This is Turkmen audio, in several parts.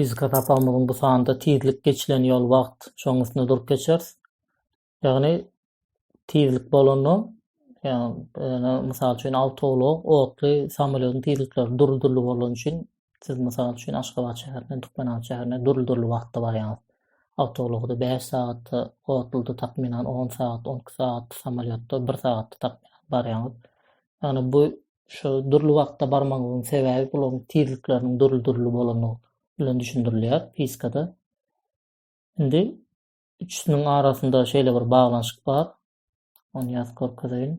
Fizika sapagymyzyň bu sanynda tizlik geçilen ýol wagt şoň üstünde durup geçeris. Ýagny tizlik bolanda ýa-da mysal üçin awtoulak otly samolýodyň tizlikleri dürli-dürli bolany üçin Siz, mysal üçin, Aşgabat şäherinden Türkmenabat şäherine dürli-dürli wagtda barýaňyz. Awtoulagda bäş sagatda, otluda, takmynan, on sagat, on iki sagat, samolýotda bir sagatda, takmynan, barýaňyz. Ýagny bu şu dürli wagtda barmagyňyzyň sebäbi bularyň tizlikleriniň dürli-dürli bolandygy bilen düşündirilýär fizikada. Indi üçüsiniň arasynda şeýle bir baglanyşyk bar. Ony ýazyp görkezeýin.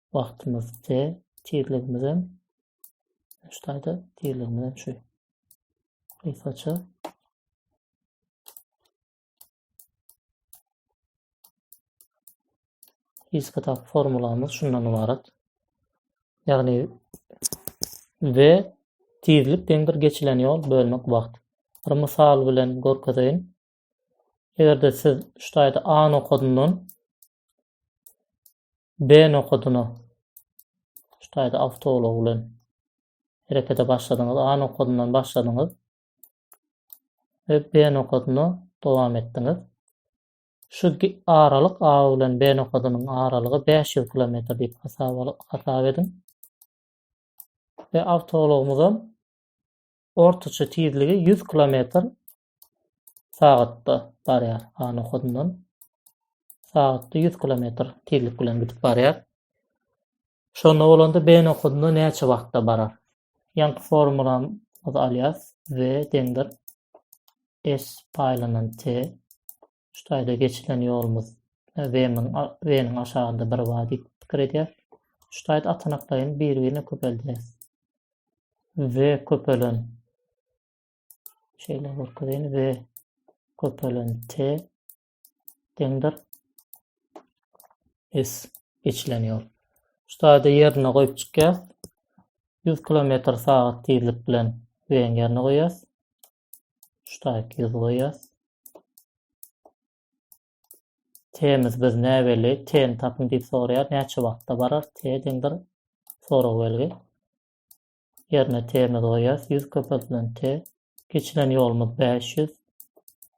wagtymyz de tizligimiz hem şuýda tizligimiz hem şu gysgaça gysgaça formulamyz şundan ibarat ýagny we tizlik deňdir geçilen ýol bölmek wagt bir mysal bilen görkezeýin eger-de siz şuýda a nokadyndan B nokadyna şu taýda awtoulag bilen herekete başladyňyz. A nokadyndan başladyňyz we B nokadyna dowam etdiňiz. Şu aralyk A bilen B nokadynyň aralygy 500 kilometr diýip hasap ediň. We awtoulagymyzam ortaça tizligi 100 kilometr sagatda barýar. A nokadyndan sagatda 100 kilometr tizlik bilen gidip barýar. Şonda bolanda B nokadynda näçe wagtda barar? Ýaňky formulamyzy alýas. V deňdir S paýlanan T. Şu taýda geçilen ýolumyz V-niň aşagynda bir bar diýip pikir edýär. Şu taýda atanaklaýyn bir-birine köpeldýär. V köpelen Şeýle görkezýän we köpelen t deňdir s geçilen ýol. Şu taýda ýerine goýup çykýar. 100 kilometr sagat tizlik bilen weň ýerine goýýas. Şu taýda 100 goýýas. T-miz biz näbeli, T-ni tapyň diýip soraýar. Näçe wagtda barar? T deňdir sorag belgi. ýerine t-mizi goýýas. Ýüz köpeldilen t. Geçilen ýolumyz bäş ýüz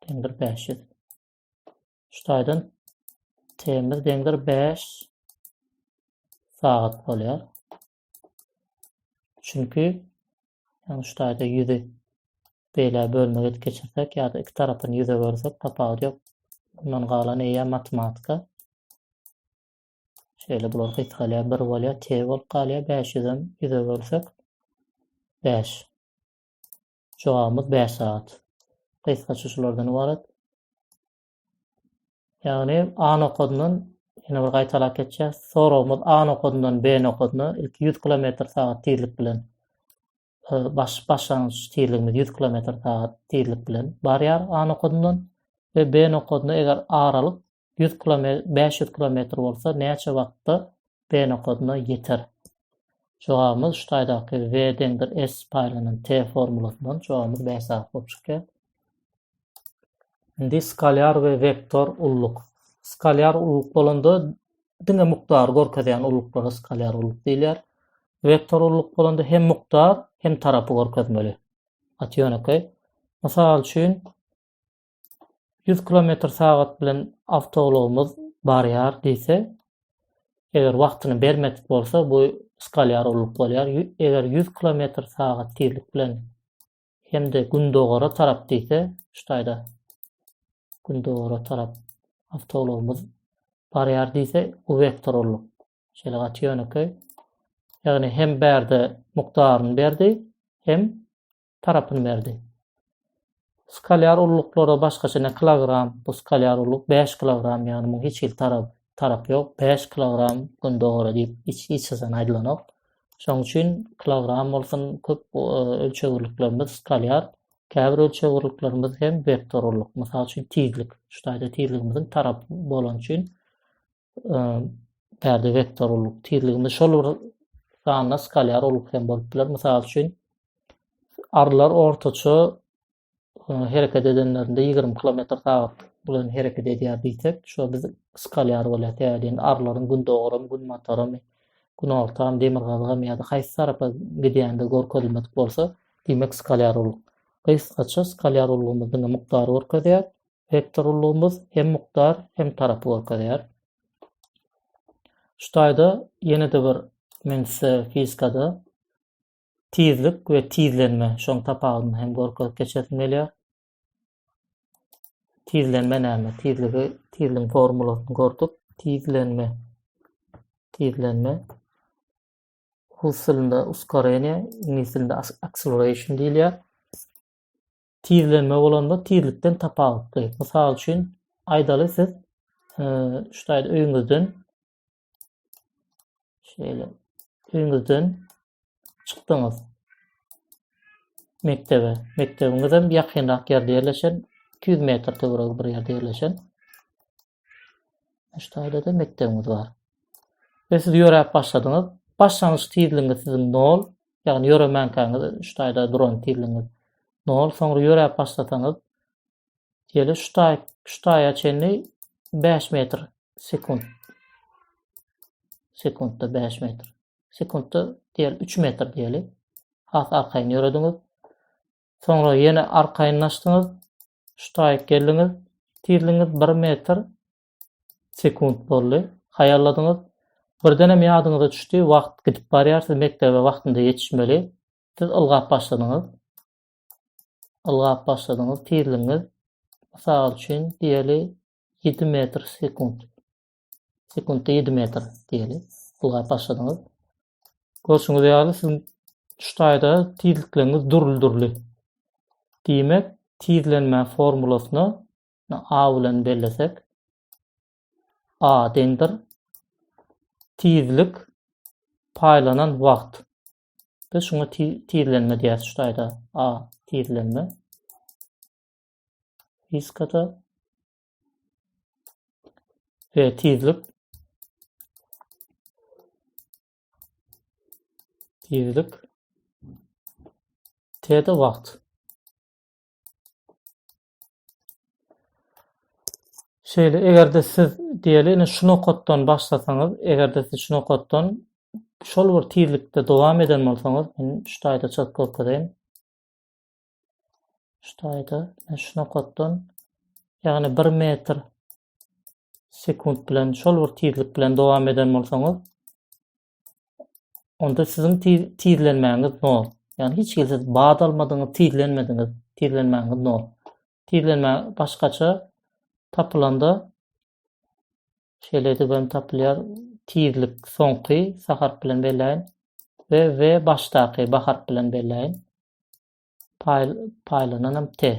deňdir bäş ýüz. Şu taýdan t-miz deňdir bäş sagat bolýar. Çünki ýagny şu taýda ýüzi beýle bölmegi geçirsek ýa-da iki tarapyny ýüze bölsek tapawudy ýok. Bundan galan eýe matematika. Şeýle bular gysgalýar, bir bolýar, T bolup galýar, 500-den 100-e bölsek, 5. Jogabymyz 5 sagat. Gysgaça şulardan ybarat. Ýagny A nokadyndan ýene bir gaýtalap geçýär. Soragymyz A nokadyndan B nokadyna ilki 100 km sagat tizlik bilen e, baş başlangyç tizligimiz 100 km sagat tizlik bilen barýar A nokadyndan we B nokadyna eger aralyk 100 kilometr, 500 kilometr bolsa näçe wagtda B nokadyna ýeter? Jogabymyz şu taýdaky V deňdir S paýlanan T formulasyndan jogabymyz B sany bolup çykýar. Indi skalar we vektor ulluk. Skalar ulluk bolanda diňe mukdary görkezýän ulluklara skalar ulluk diýilýär. Vektor ulluk bolanda hem mukdar, hem tarapy görkezmeli. Atýonokay. Mysal üçin, 100 kilometr sagat bilen awtoulagymyz barýar diýse, eger wagtyny bermedik bolsa, bu skalýar ulluk bolýar. Eger 100 kilometr sagat tizlik bilen hem-de gündogara tarap diýse, şu taýda gündogara tarap awtoulagymyz barýar diýse, bu vektor ulluk. Şeýle gaty ýönekeý. Ýagny hem bärde mukdaryny berdi, hem tarapyny berdi. Skalýar ulluklara başgaça ne kilogram, bu skalýar ulluk 5 kilogram, ýagny muň hiç hili tarap tarap ýok. 5 kilogram gündogara diýip hiç hiç zan aýdylanok. Şoň üçin kilogram bolsun köp e, ölçegirliklerimiz skalýar, käbir ölçegirliklerimiz hem vektor ulluk. Mysal üçin tizlik. Şu taýda tizligimiziň tarap bolan üçin bärde vektor ulyk tizliginde şol bir sanda skalyar ulyk hem bolup biler. Mysal üçin, arlar ortaça hereket edenlerinde 20 km sagat bilen hereket edýär diýsek, şu biz skalyar bolýar. Täzeden arlaryň gündogaram, günbataram, günortam, demirgazygam ýa-da haýsy tarapa gidýände görkezilmedik bolsa, diýmek skalyar ulyk. Gysgaça skalyar ulygymyzyň mukdary görkezýär. Wektorlygymyz hem mukdar, hem tarapy görkezýär. Şu taýda ýene-de bir men size fizikada tizlik we tizlenme şoň tapawudyny hem görkezip geçesim gelýär. Tizlenme näme? Tizligi, tizligiň formulasyny gördük. Tizlenme. Tizlenme. Rus dilinde uskoreniýe, iňlis dilinde acceleration diýilýär. Tizlenme bolanda tizlikden tapawutly. Mysal üçin, aýdaly siz şuýa öýüňizden şeýle öýüňizden çykdyňyz mekdebe. Mekdebiňiz hem ýakynrak ýerde ýerleşen, 200 metr töweregi bir ýerde ýerleşen. Şu taýda-da mekdebimiz bar. Ve siz ýöräp başladyňyz. Başlangyç tizligiňiz siziň 0, ýagny ýöremänkäňiz şu taýda duran tizligiňiz 0, soňra ýöräp başlasaňyz ýeli şu taý şu taýa çenli 5 metr sekund. Sekundda 5 metr. Sekundda diýel 3 metr diýeli. Has arkaýyn ýörediňiz. Soňra ýene arkaýynlaşdyňyz. Şu taýyk geldiňiz. Tizligiňiz bir metr sekunt boldy. Haýalladyňyz. Birdenem ýadyňyza düşdi, wagt gidip barýar, siz mekdebe wagtynda ýetişmeli. Siz ylgap başladyňyz. Ylgap başladyňyz. Tizligiňiz, mysal üçin, diýeli, ýedi metr sekunt. sekuntda 7 metr diýeli ulgap başladyňyz. Görşüňiz ýaly siziň şu taýda tizlikleriniz dürli-dürli. Diýmek, tizlenme formulasyny A bilen bellesek, A deňdir tizlik paýlanan wagt. Biz şuňa tizlenme diýýäs şu taýda. A tizlenme. Fiskada ve tizlik tizlik T'de vakt. Şeýle, eger-de siz diýeli, ine şu nokatdan başlasaňyz, eger-de siz şu nokatdan şol bir tizlikde dowam eden bolsaňyz, men şu taýda çyzyp görkezeýin. Şu taýda men şu nokatdan ýagny 1 metr sekunt bilen şol bir tizlik bilen dowam eden bolsaňyz onda siziň tizlenmäňiz nol. Ýagny hiç hili siz bad almadyňyz, tizlenmediňiz, tizlenmäňiz nol. Tizlenme başgaça tapylanda Şeýle edip hem tapylýar. Tizlik soňky sa harp bilen belläýin we w başdaky ba harp bilen belläýin. Paýl paýlanan hem t.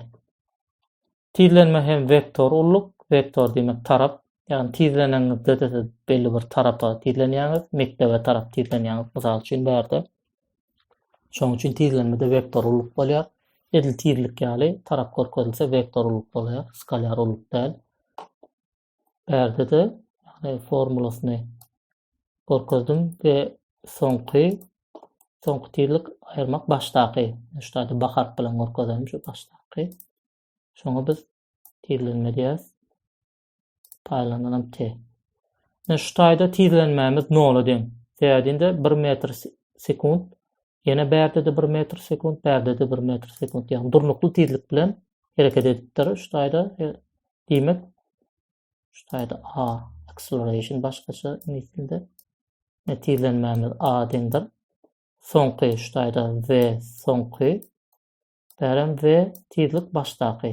Tizlenme hem vektor ulluk, vektor diýmek tarap. Ýagny tizleneňizde-de siz belli bir tarapa tizlenýäňiz, mekdebe tarap tizlenýäňiz, mysal üçin bärde. Şonuň üçin tizlenmede vektor ulyk bolýar. Edil tizlik ýaly tarap görkezilse vektor ulyk bolýar, skalar ulyk däl. Bärde-de ýagny formulasyny görkezdim we soňky soňky tizlik aýyrmak başdaky. Şu taýda ba harp bilen görkezelim şu başdaky. Şoňa biz tizlenme diýýäs. Taýlandan hem te. Ine şu taýda tizlenmämiz nola deň. Sebädinde 1 metr sekunt, ýene bärde de 1 metr sekunt, bärde de 1 metr sekunt. Ýagny durnukly tizlik bilen hereket edipdir. Şu taýda e, diýmek şu taýda a acceleration başgaça iňlis dilinde netizlenmämiz a deňdir. Soňky şu taýda v soňky bärem v tizlik başdaky.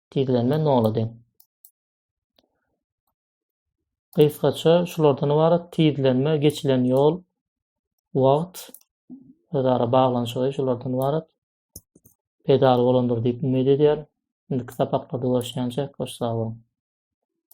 Gizlenme nola deň. Gysgaça şulardan ybarat tizlenme, geçilen ýol, wagt, özara baglanyşygy şulardan ybarat. Pedal bolandyr diýip umyt edýär. Indiki sapaklarda görüşýänçä, hoş sag boluň.